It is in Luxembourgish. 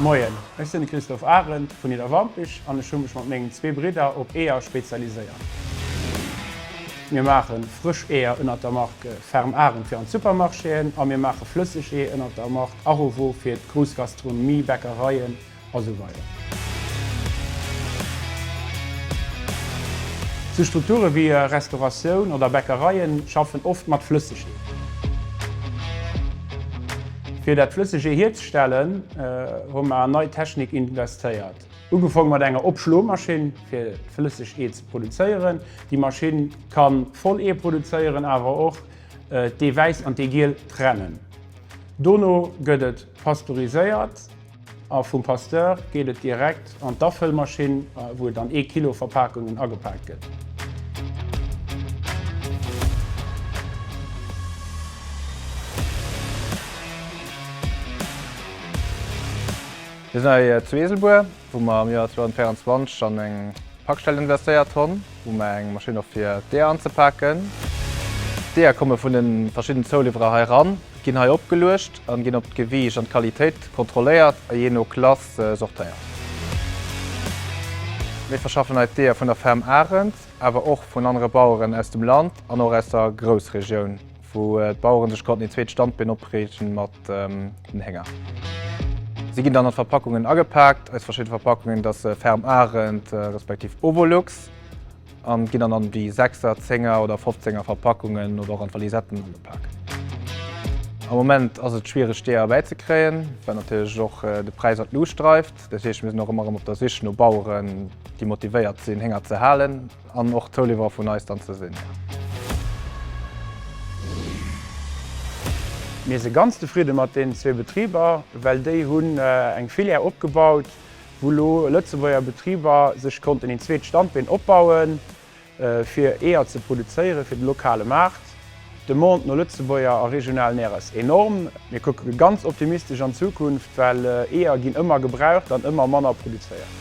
Moien, ech sinn de Christophe Arend vun Nidderwampich an ech hu mech mat mengen zwee Bridder op Eeër spezialiséiert. Mir maache frësch Eeër ënnert der Mark Ferme Arend fir an d'Supermarchéen a mir maache flësseg Ee ënnert der Mark Arovo fir d'grouss Gastronomie, Bäckereien, a sou weider. Sou Strukture wéi Restauratioun oder Bäckereie schaffen oft mat Flëssegee. Fir dat Flëssegee hierzestellen, hu mer an nei Technik investéiert. Ugefong mat enger Opschlomaschinn, fir flëssegt Ee ze produzéieren. Déi Maschinn ka voll Ee produzéieren, awer och d'Ee wäiss an d'Ee giel trennen. Dono gëtt et pasteuriséiert. A vum Pasteur geet et direkt an d'Afëllmaschinn, wou et an ee Kilo Verpakungen agepaakt gëtt. Mir sinn hei zu Eeselbuer, wou mer am Joer 2024 an eng Pakstell investéiert hunn, wou mer eng Maschinn hu fir d'Eeër anzepaken. D'Eeër komme vun de verschidden Zouliwwerer hei eran. Ginn hei opgeluecht an ginn op d'Gewiicht an d'Qualitéit kontrolléiert a jee no Klass sortéiert. Mir verschaffen hei d'Eeër vun der Ferm Arend, awer och vun anere Baueren aus dem Land an och aus der Groussregioun, wou d'Baueren sech konnten een zweet Standbeen opriichten mat den Hénger. Si ginn dann an Verpackungen agepaakt, aus verschidde Verpackungen, datt se Ferm Arend respektiv Ovolux. An ginn dann an déi Sechser, Zénger oder Fofzénger Verpackungen oder och an d'Valisetten agepak. Am Moment ass et schwiereg déi erbäi ze kréien, well natierlech och de Präis an d'Luucht dreift. Dat heescht mir sinn och ëmmer erëm op der Sich no Baueren déi motivéiert sinn Hénger ze halen an och Zouliwwerer vun eis dann ze sinn. Mir si ganz zefridde mat deenen zwee Betriber, well déi hunn eng Filière opgebaut. wou lo Lëtzebuerger Betriber sech konnten een zweet Standbeen opbauen, fir Eeër ze produzéieren fir de lokale Maart. D'Demande no Lëtzebuerger a regionalen Eeër ass enorm. Mir kucke ganz optimistesch an d'Zukunft, well Eeër ginn ëmmer gebraucht an ëmmer manner produzéiert.